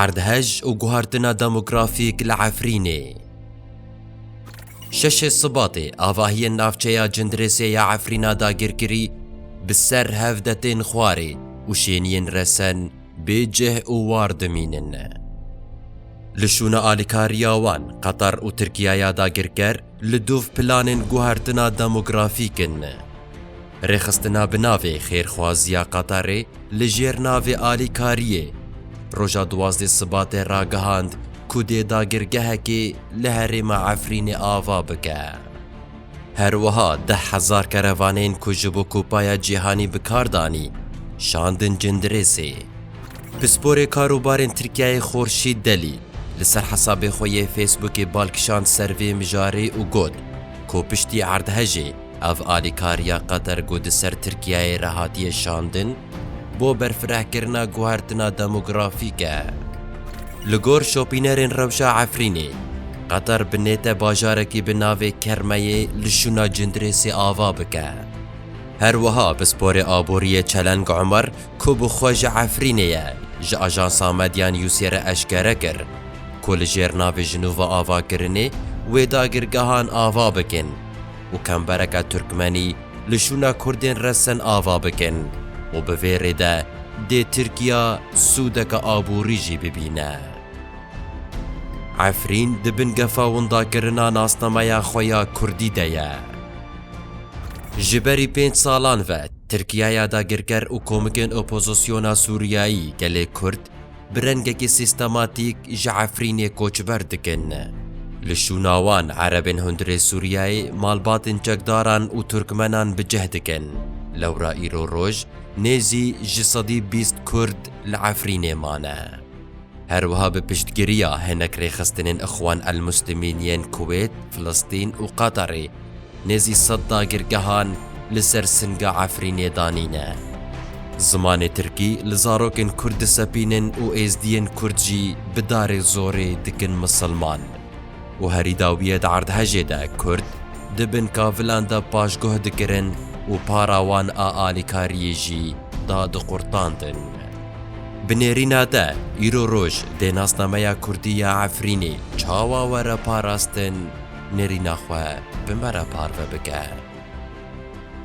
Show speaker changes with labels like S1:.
S1: Erdhej û guhertina demografîk li Efrînê. Şeşê Sibatê avahiyên navçeya Cindirêsê ya Efrîna dagirkirî bi ser hevde tên xwarê û şêniyên resen bê cih û war dimînin. Li şûna alîkariya wan Qetar û Tirkiyaya dagirker Li dûv planên guhertina demografîk in. Rêxistina bi navê Xêrxwaziya Qatarê li jêr navê alîkariyê, roja duwazdeh Sibatê ragihand ku dê dagirgehekê li herêma Efrînê ava bike. Her wiha deh hezar kerevanên ku ji bo Kupaya Cîhanî bi kar danî, şandin Cindirêsê. Pisporê Karobarên Tirkiyeyê Xorşîd Delî li ser hesabê xwe yê Facebookê bal kişand ser vê mijarê û got ku piştî erdhejê ev alîkariya Qatar ku di ser Tirkiyeyê re hatiye şandin bo berfirehkirina guhertina demografîk e. Li gor şopînerên rewşa Efrînê, Qatar bi nête bajarekî bi navê Kermeyê li şûna Cindirêsê ava bike. Her wiha Pisporê Aboriyê Çeleng Umar, ku bi xwe ji Efrînê ye, ji ajansa Medya Newsê re eşkere kir, ku li jêr navê jinûva avakirinê wê dagirgehan ava bikin û kembereke Turkmenî li şûna Kurdên Resen ava bikin û bi vê rê de dê Tirkiya sûdeke aborî jî bibîne. Efrîn di bin gefa windakirina nasnameya xwe ya Kurdî de ye. Ji berî pênc salan ve Tirkiye ya dagirker û komikên opozisyona Sûriyeyî gelê Kurd bi rengekî sîstematîk ji Efrînê koçber dikin. Li şûna wan erebên hundirê Sûriyeyê malbatên çekdaran û Turkmenan bi cih dikin. Lewra îro roj nêzî ji sedî bîst Kurd li Efrînê mane. Her wiha bi piştgiriya hinek rêxistinên Ixwan el-Muslimîn yên Kuwêt, Filistîn û Qatarê, nêzî sed dagirgehan li ser Singa Efrînê danîne. Zimanê Tirkî li zarokên Kurd disepînin û Êzdiyên Kurd jî bi darê zorê dikin misilman. û herî dawiyê di erdhejê de Kurd di bin kavilan de paşguh dikirin û para wan a alîkariyê jî dadiqurtandin. Bi nêrîna de îro roj dê nasnameya Kurdî ya Efrînê çawa were parastin, nêrîna xwe bi me re parve bike.